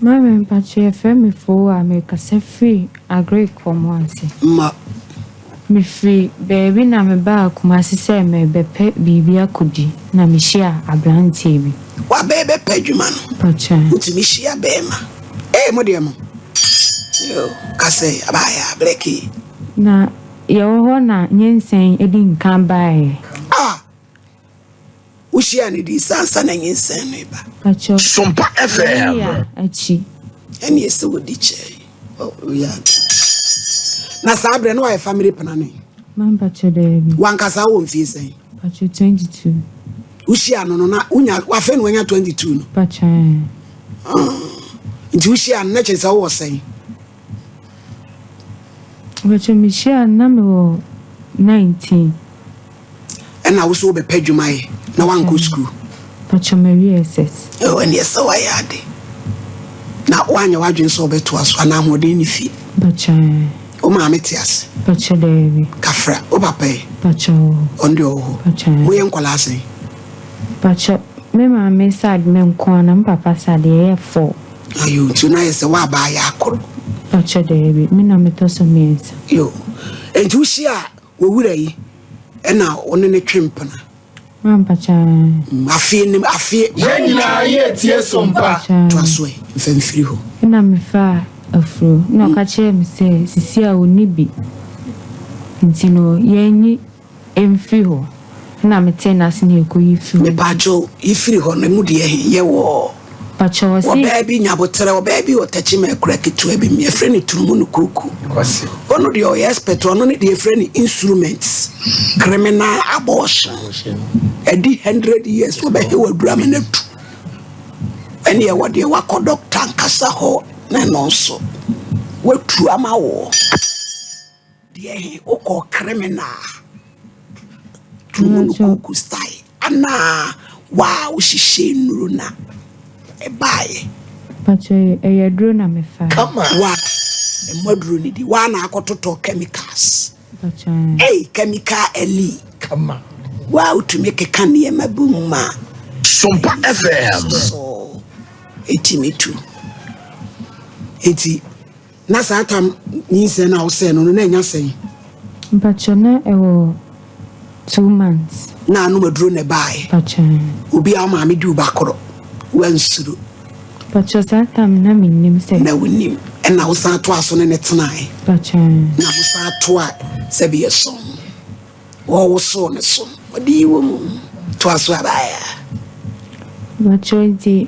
Mame mpakyɛ yɛfrɛ me foo a merekasa firi agric fam ase. Ma. Mefiri baabi na mebaa kumase sɛ merebɛpɛ biribi akɔdi na mehyia abranteɛ bi. Wabɛɛ bɛpɛ adwuma no. Mpakyɛ. Nti mehyia bɛɛma. Ee mo deɛ mo yoo kasɛ abaayɛ a blɛkee. Na yɛwɔ hɔ na nyɛnsɛn adi nka baeɛ. Ah Wohyiaa no dii sɛ ansa na nyinsɛn no reba. Ka kyerɛ wɔn. Sompa FM. Wɔn yɛ akyi. Ɛne ɛsɛ wɔdi kyɛe. Ɔyɛ ade. Na saa berɛ no wayɛ family planning. Mampakyɛ daabi. Wankasa wɔ mfie sɛn? Pakyɛ 22. Wohyiaa no no na wonya wafɛ no wanya 22 no? Pakyɛ ɛɛ. Ah, nti wohyiaa no na kyerɛ sɛ wowɔ sɛn? Mpakyɛw mihyia a na me wɔ nineteen. Ɛna woso wobɛpɛ adwuma yɛ na wankɔ sukuu. Mpakyɛw mawie SS. Oh ɛne ɛsɛ wayɛ ade. Na wanyɛ wadwene sɛ wobɛtoa so anaa ahoɔden ne fie. Mpakyɛw ɛɛ. Wo maame te ase. Mpakyɛw daabi. Kafra wo papa ɛ. Mpakyɛw ɔwɔ hɔ. Ɔno deɛ ɔwɔ hɔ. Mpakyɛw ɛɛ. Moyɛ nkɔlaa sɛn. Mpakyɛw me maame side me nkoaa na me papa side yɛyɛ four. Na yo nti na ayɛ sɛ w'aba ayɛ akoro. Fakyɛ daabi, me na metɔ so mmiɛnsa. Yo, enti wo hyia wo wura yi ɛna wo ne ne twe mpena. Mampa kyaa. Mm, afie nim afie. Yɛn nyinaa yɛ tie so mpa. Toa so ɛ, mfa mfiri hɔ. Ɛna mefaa afuro na ɔka kyerɛɛ me sɛ sisi a ɔnni bi nti no yɛnyi. Mfiri hɔ na metee n'ase na ɛkɔ yi firi hɔ. Me paakyo yi firi hɔ no emu deɛ he yɛ wɔɔ. Pakyɛw ɔse. Ɔbaa bi nyaboterɛ ɔbaa bi wɔ Takyima akura ketewa bi mu yɛfrɛ no Turumu no Kuruku ɔno deɛ ɔyɛ expert ɔno ne deɛ yɛfrɛ no instruments criminal abortion ɛdi hundred years ɔbɛ he wɔ adura me no atu ɛne ɛwɔ deɛ wakɔ doctor ankasa hɔ na ɛno nso watu ama wɔ. Deɛ he wokɔɔ criminal Tumunuku Nti style anaa waa wohyehyɛɛ nnuro na ɛbaeɛ? Mpakyɛ yi ɛyɛ aduro na mefaa. Kama. Wa mmɔ aduro no di waa na akɔtotɔ chemicals Mpakyɛ ɛɛ. ei chemical ali Kama. waa wotumi keka nneɛma bi mu ma Sompa FM. so ɛtumi tu nti. Na saa tam nyinsɛn no a ɔsɛɛ no no, na anya sɛn? Mpakyɛ na ɛwɔ two months. Na anom aduro na ɛbaaɛ. Mpakyɛ. Obi a ɔmaame di wo ba koro, wansuro. Mpakyɛ saa tam na me nnim sɛ. Na wo nim. Ɛna wo san toa so ne ne tenaaɛ. Mpakyɛ. Na mo san toa sɛ bi yɛ sɔn. Wɔ wo so ne so. Ɔde yi wɔ mu. Toa so a baaɛ a. Mpakyɛ nti.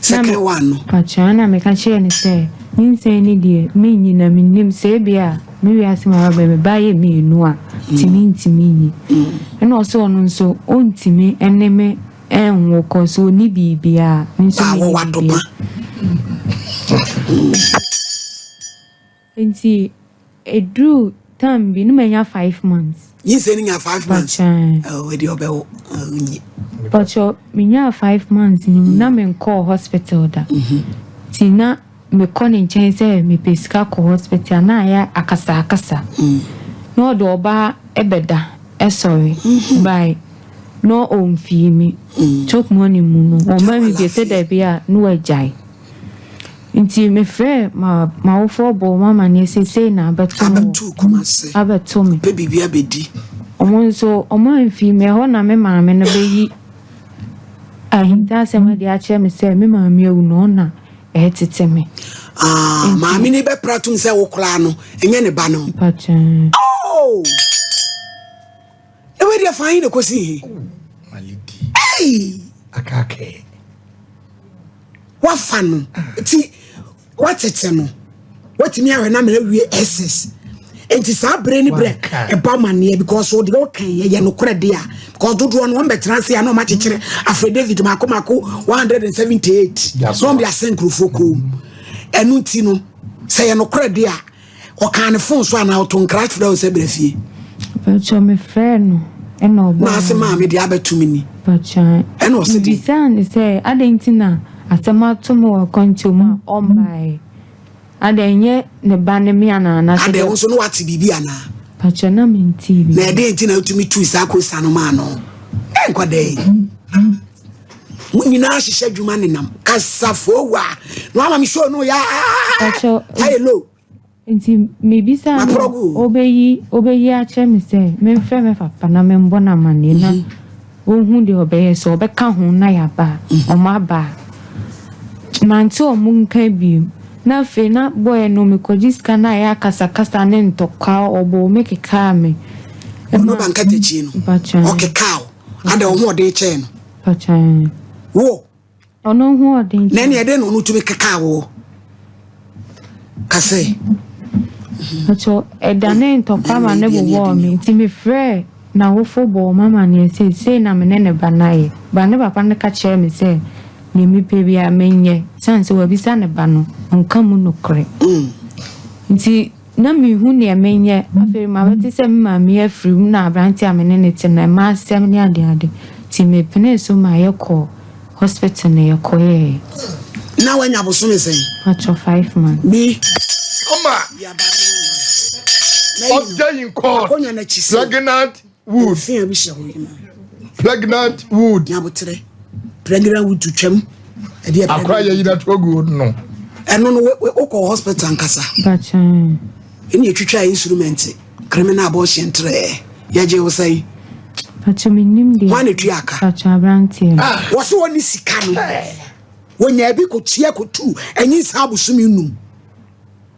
Second one no. Ɔkyena na meka kyerɛɛ no sɛ, Nyinsɛn no deɛ, mennyi na mennim sɛ ebia me wiase mu ara bɛyɛ me ba yɛ mmienu a, nti mentumi nyi. Ɛna ɔsɛ ɔno nso, ɔntumi ne me nwo kɔ so ɔni biribiara. Me nso menni biribiara. Ntsi edur tam bi no menya five months. Nyinsɛn no nya five months. Mpakyɛw. Ɔwɔ deɛ ɔbɛwo ɔnyi. Mpakyɛw menyaa five months no mu na me nkɔɔ hospital da. Nti na me kɔ ne nkyɛn sɛ me pɛ sika kɔ hospital a na ayɛ akasa akasa. Na ɔde ɔba ɛbɛ da ɛsɔre by na ɔnfii me. Chop money mu no ɔma me bi sɛ dabi a na wagyae. Nti mefrɛɛ ma m'awofoɔ bɔɔ wɔn amaneɛ seisei na abɛto mo Abɛto Kumase. abɛto me. Pɛ biribi abɛdi. Wɔn nso wɔn amfi me hɔ na me maame no bɛyi ahintasɛm adi akyerɛ me sɛ me maame awu na ɔna ɛretete me. Ah, Nti- maame no bɛpra tom sɛ wo koraa no, ɛnyɛ ne ba no. Mpakyɛ. Oh! na wei deɛ faa he na kɔsi he ei wafa no nti watete no watumi awɛ na mmerɛ wie ss nti saa berɛ ne berɛ ɛba manneɛ because wode woka yɛ nokorɛ de a because dodoɔ no wɔmbɛtena ase a na ɔmakyekyerɛ afrɛ david maako maako 178 na ɔmde asɛ nkurɔfoɔ koo ɛno nti no sɛ yɛ nokorɛ de a Ɔkaa ne fon so anaa ɔto nkra frɛ wo sɛ brɛ fie? Patsɔ me frɛ no ɛna ɔbɔ. Na ase maa me deɛ abɛto me ni. Patsɔ ɛna ɔsi deɛ. Bisaa ne sɛ adɛn nti na asɛm ato me wɔ akwantuo mu a ɔmbaeɛ. Adɛn ɛnyɛ ne ba ne me anaa na sɛ. Adɛn wo nso na wate biribi anaa. Patsɔ na mentii biribi. Na ɛdɛn nti na wotumi tui saa kosa no maa no. Ɛnkɔ dɛn. mo nyinaa hyehyɛ adwuma nenam kasafoo wa na wama me show no yɛ ayɛ low nti mebisa no ɔbɛyi ɔbɛyi akyerɛ me sɛ memfrɛ me papa na membɔ no amanneɛ na mhm. wɔhu deɛ ɔbɛyɛ sɛ ɔbɛka ho na yɛaba a mhm. ɔma aba a mante ɔmo nka bio na afei na bɔɛ no mekɔgye sika no a ɛyɛ akasakasa ne ntɔkwa ɔbɔ me kekaa me ɔno bankatakyi no ɔkekaa Ada ɔhoɔden kyɛɛ no. Ɔkyɛn. Wo. Ɔno ɔhoɔden kyɛn. Na ɛne ɛdɛn na ɔno tumi kekaa wo? Kasɛ. Ɔkyɛ ɛdane ntɔkwa ma ne bobɔɔ me nti mefrɛɛ n'awofo bɔɔ ma ma neɛ sɛ sei na me ne ne ba no ayɛ. Ba ne papa no ka kyerɛɛ me sɛ deɛ mepɛ biara menyɛ sane sɛ wabisa ne ba no ɔnka mu nokorɛ. Mm. Nti Ná minhu nea menyɛ. Afei mabɛte sɛ me maame yi afiri mu na aberante a me ne no te no, mma asɛm ne adeade. Enti mepenee so ma yɛkɔɔ hospital na yɛkɔyɛe. Ná wanya bosome sɛn? Patrɔ, five months. Bi. Ɔma ɔda yi nkɔɔ pregnant wood. Fi a bi hyɛ hɔ yema. Pregnant wood. Nyabotere. Pregnant wood to twam. Ɛdi ɛpɛ. Akora yɛ yina to gu wood no. Ɛno no wokɔ hospital nkasa. Bachan. Ɛni etwitwa instrument criminal abortion trɛ. Yɛgye wo sɛn. Bachan mi nim deɛ. Wɔn etu aka. Bachan aberanteɛ. Ah. Wɔsi wɔn ni sika no. Wɔnya ebi kɔ tia kɔ tu. Ɛnyi nsa abosom enum.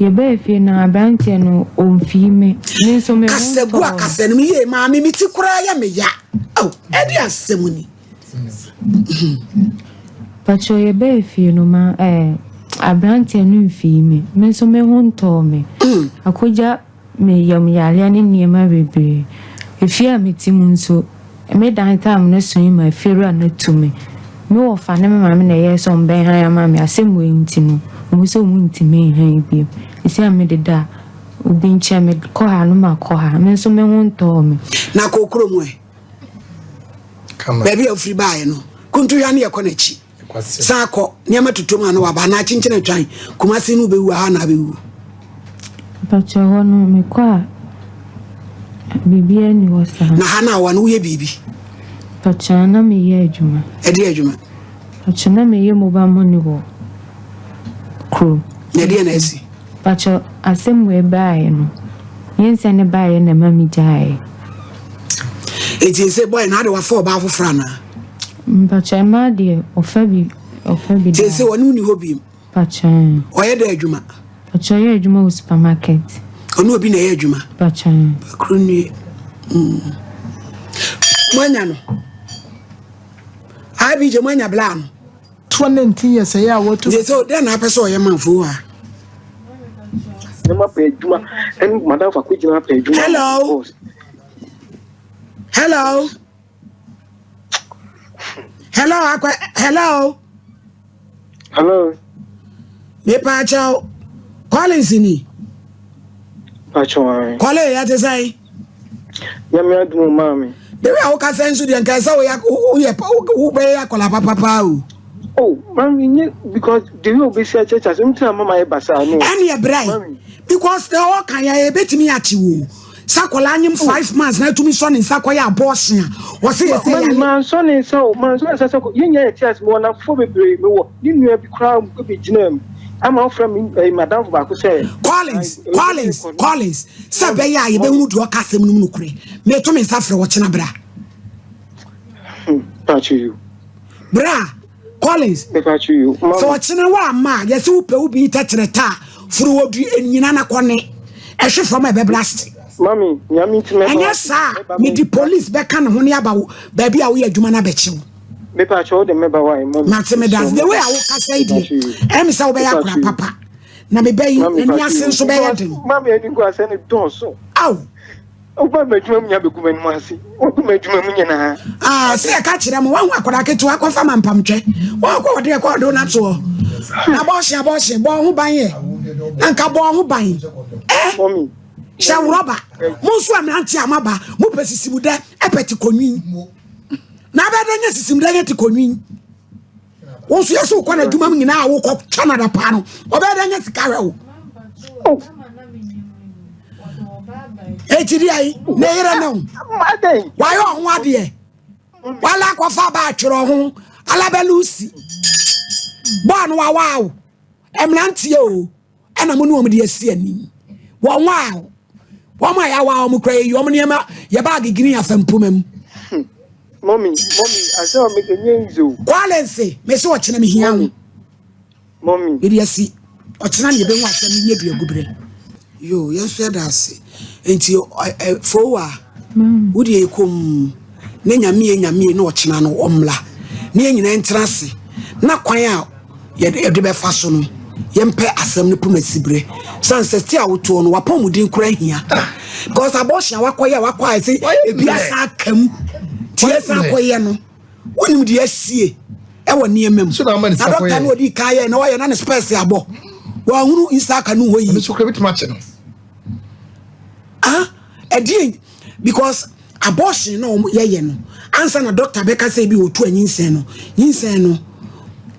Yɛbɛɛ fie no aberanteɛ no ɔmfii me me nso me ho tɔɔ no. akasɛ no mu yie maame me ti koraa yɛ me ya oh, ɛde asɛm ni pakyɛ yɛbɛɛ fie no ma eh, aberanteɛ no mfii me me nso me ho ntɔɔ me akogya me yam yareɛ ne nneɛma bebree. Efie a mete mu nso, me dan time no soe ma efiewura no tu me. Me wɔfa ne me maame na ɛyɛɛ sɛ wɔn bɛn han ama me. Asɛm wei nti no, wɔn sɛ wɔn ntumi nhan bio. Esi a me deda a, obi nkyɛn, me kɔ ha no ma kɔ ha. Me nso me ho ntɔɔ me. Na kɔ kurom ɛ. Baabi a ofiri baeɛ no, Kuntuhwa no yɛkɔ n'akyi. saa kɔ nneɛma tutu mu a na waba anaa kyenkyen atwan kumase no bɛwu aha na abɛwu mpakyɛ hɔ no mekɔ a biribiara ni hɔ saa na ha no awa no woyɛ biribi mpakyɛ na meyɛ adwuma ɛdeɛ adwuma mpakyɛ na meyɛ mobile money wɔ kurom na ɛdeɛ na asi mpakyɛ asɛm wei baeɛ no yɛnsɛ ne baeɛ na ɛma megyaeɛ ɛti sɛ bɔe na ade wafa ɔbaa foforɔ anaa Mpakyɛ mmaa deɛ ɔfa bi ɔfa bi daa. Seesei ɔne wo nni hɔ biem. Mpakyɛ. Ɔyɛ dɛn adwuma? Mpakyɛ ɔyɛ adwuma wɔ supermarket. Ɔne obi na ɛyɛ adwuma. Mpakyɛ. Bakuru nie. Mm. Moanya no. Abi gye moanya blaa no. Toɔ ne nti yɛ sɛ yɛ a wɔto. Nti sɛ dɛn na apɛ sɛ ɔyɛ manfo a. Ɛma pɛ adwuma. Ɛn madam fa kɔ gyina pɛ adwuma. Hello. Hello. hello akwa hello. hello. mepa akyɛw collins ni. pakyɛw ayi. kɔle yɛ te sɛ yi. nyame adumu maa mi. bebe a woka sɛ nso deɛ nka sɛ woyɛ woyɛ wobɛyɛ akɔla papapaa o. o oh, mami nye because the way obi si akyɛ kyɛ so n tira mama yɛ basa no. ɛni ɛbrɛ yi because na ɔka yɛ ebetumi akyi wo. sɛ akwadaa anyem oh. five months na atumi sɔ ne nsa kɔyɛ abɔɔsen a wɔsɛ yɛ sɛ yɛn. maa nsɔ ne nsa o maa nsɔ ne nsa sɛ kɔ yɛn nyɛ yɛ ti ase mewɔ nafoɔ bebree mewɔ ne nua bi koraa bi gyina mu ama ɔfrɛ mi ɛɛ eh, madamfo baako sɛ. collins eh, collins collins sɛ bɛyɛ a yɛbɛhunu deɛ ɔka asɛm no mu nokorɛ meto me nsa frɛ wɔkyena bra. Hmm, bra. Collins, sɛ ɔkyene wo ama a yɛsɛ wopɛ wo bi tɛkyerɛ ta a foro wɔ du nyina na kɔne ɛhwe fam a ɛbɛblaste ɛnyɛ saa a mede police bɛka ne ho ne aba baabi a woyɛ adwuma no abɛkye wo mate medase the way a wokasa yi deɛ ɛme sɛ wobɛyɛ akora papa na mebɛyi ani ase nso bɛyɛ den ao Woba m'adwuma mu nya bɛgu m'anim ase, wogu m'adwuma mu nyinaa. Ah, sɛ yɛka kyerɛ mo, wahu akwadaa ketewa kɔfa ma mpamtwɛ. Wɔkɔ ɔde ɛkɔ ɔdo na toɔ. Abɔɔhye, abɔɔhye, bɔɔ ho ban yɛ. Na nka bɔɔ ho ban. Eh, hyɛ worɔba. Mo nso a mmerante a moaba, mopɛ sisimdɛ, ɛpɛ te kɔnwin. Na abɛdɛ nyɛ sisimdɛ nyɛ te kɔnwin. wo nso yɛ sɛ wokɔ n'adwuma mu nyinaa a wokɔ canada paa no ɔbɛyɛ dɛ nyɛ sika hwɛ wo ɛkyiri ayi ne yerɛ ne wo wayɛ ɔho adeɛ wala akɔfa ba atwerɛ ho alabɛlusi bɔɔ no wawaa wo ɛmmeranteɛ o ɛna mo ne wɔn de asi anim wɔn a wɔn a yɛawa wɔn kora yɛyi wɔn nneɛma yɛ baage green afa mpoma mu. Hmm. mɔmi mɔmi asɛ ɔmi kɛ nye nze o. kwale nse mesi ɔkyena mi hia ho. mɔmi yɛde asi ɔkyena ne yɛbɛhu asɛm ne nyɛ bi agubere. yoo yɛn nso yɛda ase nti fowa wode yɛ kɔm. na Nyame yɛ Nyame yɛ na ɔkyena no ɔmmra na yɛn nyinaa ntena ase na kwan a yɛde bɛfa so no yɛmpɛ asɛm no poma siberɛ sane sɛ sti a wotoɔ no wapɔmuden kora hia because abortion a wakɔyɛ a wakɔ ayɛ sɛ ebi asa aka mu nti yɛsan akɔyɛ no wonim deɛ asie ɛwɔ nneɛma mu na dɔkta no ɔdi kan yɛ na wayɛ na ne spɛs abɔ wɔahunu nsa aka no hɔ yi ɛdeɛ because abortion na wɔn yɛyɛ no ansa na doctor bɛka sɛ ebi otu anyinsɛn no nyinsɛn no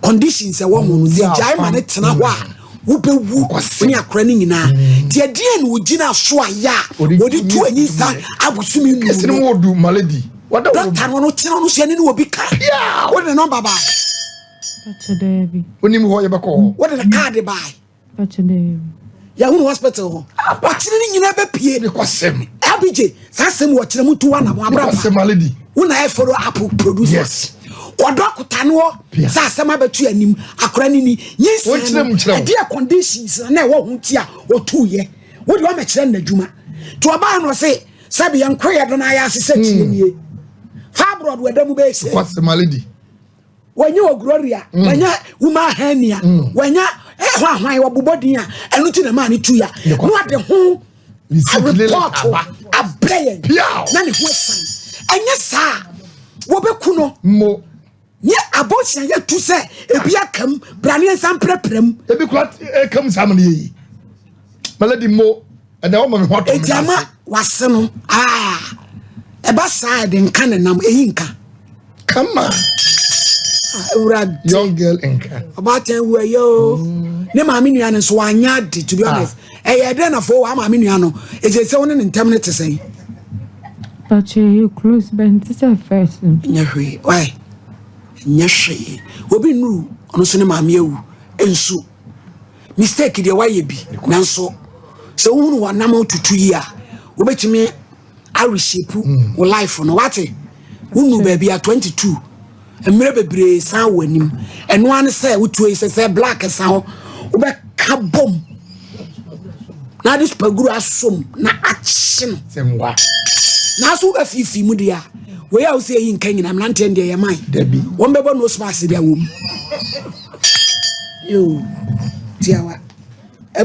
conditions ɛwɔ mu no yɛ gyae ma ne tena hɔ a wobɛwu ne akora no nyinaa mm. nti ɛdeɛ na ogyina so a yɛ a wɔde tu anyinsɛn abosom mu no doctor no no tena no hyɛ ne ne obi ka wode ne nɔmba baa wonim hɔ yɛbɛkɔ hɔ wode ne kaade baa yɛhunu hospital hɔ ɔkyerɛ no nyinaa bɛpie abigye saa sɛm wɔkyerɛ mu to wanam abrabɔ wo na ɛforo apo produce yes kɔdɔ akuta no hɔ sɛ asɛm abɛto anim akora no ni nyinsɛ no ɛdeɛ conditions na ɛwɔ ho nti a ɔtuuyɛ wode wamɛkyerɛ no n'adwuma nti ɔbaa no se sɛ bi yɛnkɔ yɛ do no ayɛ ase sɛ kyerɛ nie fibroid wɔ da mu bɛyɛ sɛ wɔanya wɔ Gloria, mm. wɔanya woma ahania, mm. wɔanya ɛhɔ eh, ahwan wɔbobɔ din a ɛno ti na maa ne tu ya na ɔde ho repɔto abrɛ yɛn na ne ho asan ɛnyɛ saa wɔbɛku no mmo nye abɔnhyia yɛ tu sɛ ebi akam braneɛ nsa mprɛprɛ mu ebi kura ekam saa mu ne yɛ yi maladi mmo ɛnna wɔn ne ho ato ne gyama n'ase. wase no aa ɛba saa a, ɛde nka ne nam eyi nka kama Ah, awurade young girl nka ɔbaatan wu ɛyɛ o ne maame nua no nso wanyɛ ade to be honest ɛyɛ dɛ na fo wa maame nua no ɛsɛ sɛ wo ne ne ntɛm no te sɛn But you, you close bent is a first. no. nyɛ hwee wae nyɛ hwee obi nnuru ɔno nso ne maame awu nsu mistake deɛ wayɛ bi nanso sɛ wohunu wanam tutu yi a wobɛtumi areshape hmm. wo life no wate wonu baabi a 22 mmerɛ bebree san wɔ anim ɛno ara ne sɛ wotuo yi sɛ sɛ black san hɔ wobɛka bom na ade supaguru asom na akye no nanso wobɛfiifii mu deɛ a wei a wosi eyi nka nyina mmeranteɛ no deɛ yɛ man wɔn bɛbɔ nose mask deɛ wɔ mu yoo tiawa.